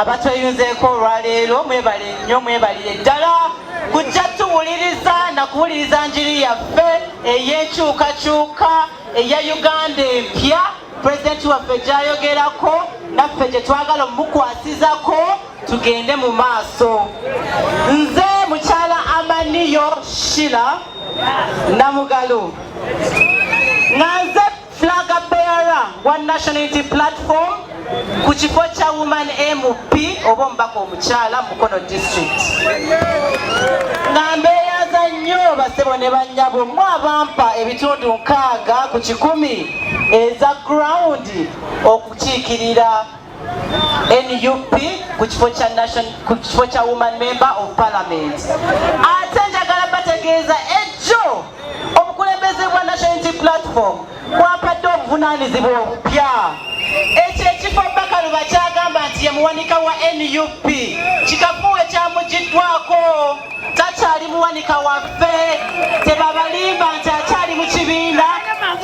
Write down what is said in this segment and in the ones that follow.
abatweyunzeeko olwaleero mwebale nnyo mwebalire ddala kujja tuwuliriza na kuwuliriza njiri yaffe ey'enkyukakyuka eya uganda empya pulezidenti waffe gyayogerako naffe gye twagala omukwasizako tugende mu maaso nze mukyala amaniyo shila namugalo nga nze flaga beara wa national unity platform ku kifo kya woman mp oba omubaka omukyala mukono district nga mbeeyaza nnyo basebo ne bannyabo mwe abampa ebitundu nkaaga ku kikumi eza ground okukiikirira nup ku kifo kya nation ku kifo kya woman member of parliament ate njagala bategeeza ejjo obukulembeze bwa national unity platform kwapadde obuvunaanyizibwa obupya ekyo ekifo bakalu bakyagamba nti yemuwanika wa nup kikafuwe kyamugiddwako takyali muwanika waffe tebabalimba nti akyali mu kibiina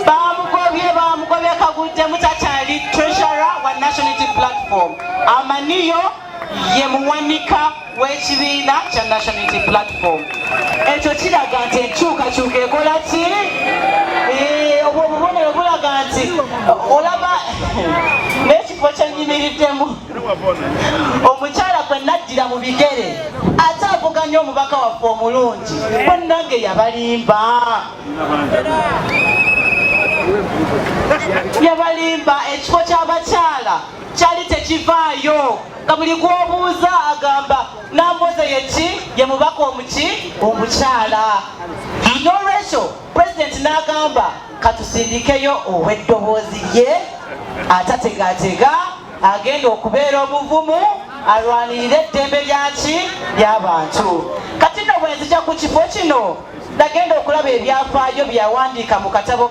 bamugobye bamugobye kaguddemu takyali treasure wa nationality platform amaniyo ye muwanika w'ekibiina kya nationality platform ekyo kiraga nti enkyukakyuka ekola ki eh, obwo obubonero bulaga nti olaba n'ekifo kyenyimiriddemu omukyala gwe naddira mu bigere ate avuganya omubaka waffe omulungi bannange yabalimba yabalimba ekifo ky'abakyala kyali tekivaayo nga buli gwobuuza agamba namboze yeki ye mubaka omuki omukyala nolwekyo pulezidenti n'agamba katusindikeyo ow'eddoboozi lye atategatega agenda okubeera obuvumu alwanirire eddembe lyaki lyabantu kati no bwenzija ku kifo kino nagenda okulaba ebyafaayo byeyawandiika mu katabo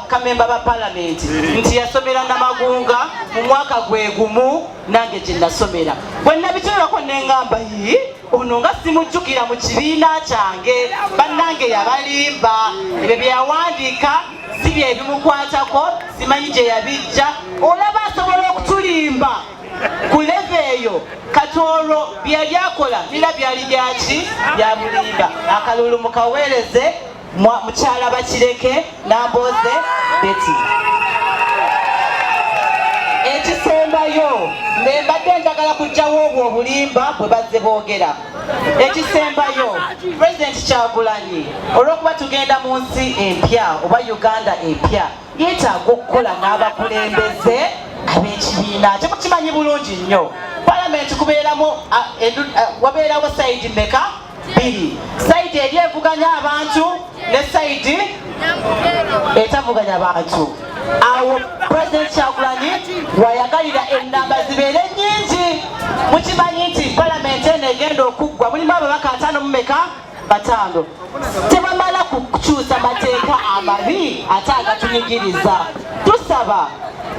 kamemba ba palamenti nti yasomera namagunga mu mwaka gwegumu nange gyenasomera bwenabitunulako nengamba yii ono nga simujjukira mu kibiina kyange bannange yabalimba ebyo byeyawandiika si byebimukwatako simanyi gye yabijja olaba asobola okutulimba ku leve eyo kati olwo byeyali akola nira byali byaki byamulimba akalulu mukaweereze mukyala bakireke nambooze beti ekisembayo mbembadde njagala kujjawo obwo obulimba bwe bazze boogera ekisembayo president kyagulanyi olwokuba tugenda mu nsi empya oba uganda empya yetaaga okukola n'abakulembeze ab'ekibiina temukimanyi bulungi nnyo palamenti kubeeramu wabeerawo sayidi meka biri sayidi eri evuganya abantu ne sayidi etavuganya bantu awo president kyagulanyi wayagalira enamba zibeere nyingi mukimanyi nti palamenti eno egenda okuggwa mulimu ababaka ataano mumeka bataano tebamala kukyusa mateeka amabi ate agatunyigiriza tusaba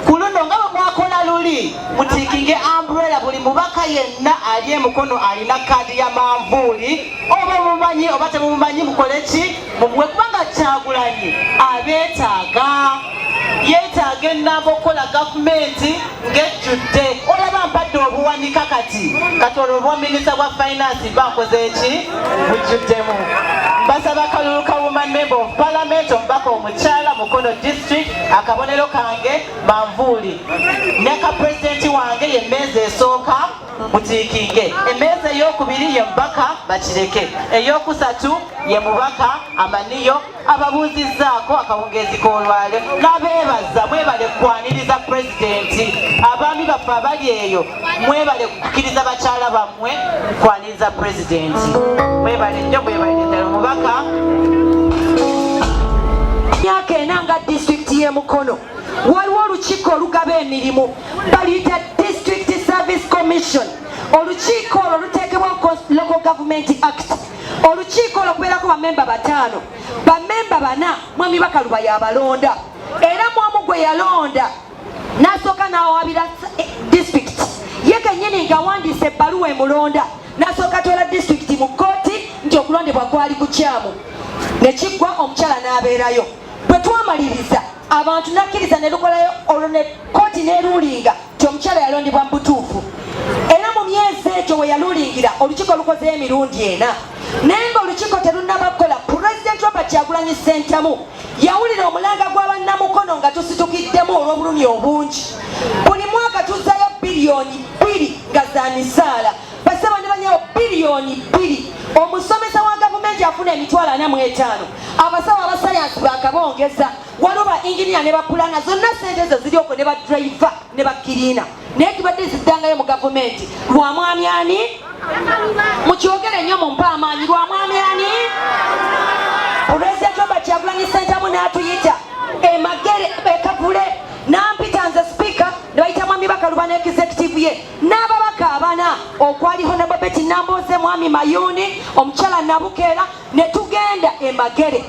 Ku luno nga bwe mwakola luli, mutiikinge umbrella buli mubaka yenna ali emukono alina kaadi ya manvuuli oba omumanyi oba temumumanyi mukole ki mumuwe kubanga Kyagulanyi abeetaaga yeetaaga ennamba okukola gavumenti ng'ejjudde olaba mpadde obuwanika kati kati olwo obwaminisita bwa finance bakoze eki bujjuddemu basaba kalulu ka woman member of parliament omubaka kyala mukono district akabonero kange manvuuli ne ka pulezidenti wange ye mmeeza esooka mutiikinge emmeeza ey'okubiri ye mubaka bakireke ey'okusatu ye mubaka amaniyo ababuuzizzaako akawungeezi k'olwale n'abeebaza mwebale kwaniriza pulezidenti abaami baffe abali eyo mwebale kukkiriza bakyala bammwe kwaniriza za pulezidenti mwebale nnyo mwebale ddala omubaka myaka ena nga disitulikiti y'e mukono waliwo olukiiko olugaba emirimu baluyita district service commission olukiiko olwo luteekebwa local government act olukiiko olwo kubeerako bamemba bataano bamemba bana mwami bakaluba yabalonda era mwamu gwe yalonda nasooka nawawabira eh, district ye kenyini ngawandiisa ebbaluwa emulonda nasooka twala district mu kkooti nti okulondebwa kwali kukyamu nekiggwa omukyala n'abeerayo bwe twamaliriza abantu nakkiriza ne lukolayo olwo ne kkooti neruulinga nti omukyala yalondebwa mu butuufu era mu myezi egyo we yaluulingira olukiiko lukozeyo emirundi ena naye nga olukiiko terunaba kukola pulezidenti robert yagulanyi sentamu yawulira omulanga gwa bannamukono nga tusitukiddemu olw'obulumi obungi buli mwaka tuzzayo biliyoni bbiri nga za misaala basaba ne banyabo biliyoni bbiri omusomesa wa gavumenti afuna emitwalo ana mu etaano abasawo abasayansi bakabongeza waliwo ba inginiya ne bapulana zonna sente ezo ziri okwo ne badriva ne bakiriina naye tubadde ziddangayo mu gavumenti lwa mwami ani mukyogere nnyo mumpe amaanyi lwa mwami ani pulezidenti oba kyagulanyi sentamu n'atuyita emagere ekavule nampita nze sipiika ne bayita mwami bakaluba ne executive ye n'ababaka abana okwali honababeti nambooze mwami mayuuni omukyala nabukeera ne tugenda e Magere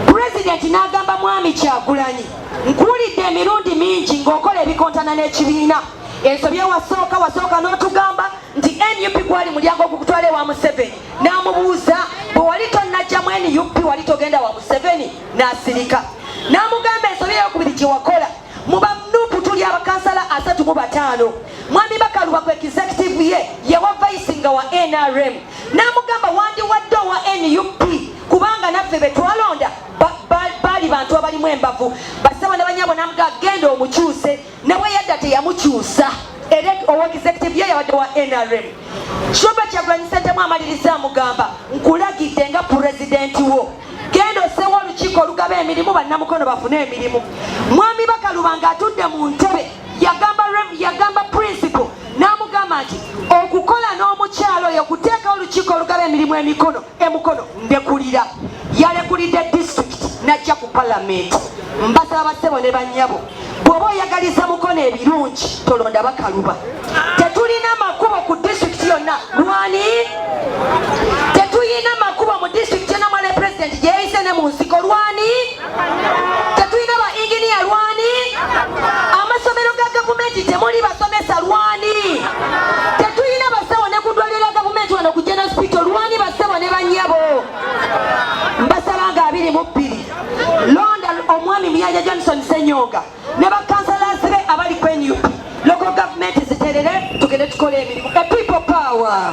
pulezidenti n'agamba mwami Kyagulanyi nkuwulidde emirundi mingi ng'okola ebikontana n'ekibiina ensobi ewasooka wasooka n'otugamba nti nup gwali mulyango ogukutwala ewa museveni n'amubuuza bwe wali tonnajjamu nup wali togenda wa museveni n'asirika n'amugamba ensobi eyokubiri gye wakola mu banupu tuli abakansala asatu mu bataano mwami bakaluba ku executive ye yewa vayisi nga wa nrm n'amugamba wandiwadde owa nup kubanga naffe betwalonda baali bantu abalimu embavu basaba nabanyabo namuga genda omukyuse nawe yadda teyamukyusa era owa executive ye yabadde wa nrm shoba kyagulanyi sentemu amaliriza amugamba nkulagidde nga pulezidenti wo genda osewo olukiiko olugaba emirimu bannamukono bafune emirimu mwami bakaluba nga atudde mu ntebe yagamba yagamba principal n'amugamba nti okukola n'omukyalo oyo kuteeka olukiiko olugaba emirimu emikono emukono ndekulira yalekulidde disitulikiti najja ku palamenti mbasaba basebo ne banyabo bwoba oyagaliza mukono ebirungi tolonda bakaluba tetulina makubo ku disitulikiti yonna lwani tetuyina makubo mu disitulikiti yonna mwale pulezidenti gyeyise ne mu nsiko lwani tetulina ba inginiya lwani amasomero ga gavumenti temuli basomesa lwani tetulina basawo ne ku ddwaliro lya gavumenti wano ku general hospital lwani basebo ne banyabo mbasaba nga abiri mu bbiri londa omwami muyanja johnson senyonga ne bakansalaasi be abali ku nup local gavumenti ziterere tugende tukola emirimu a people power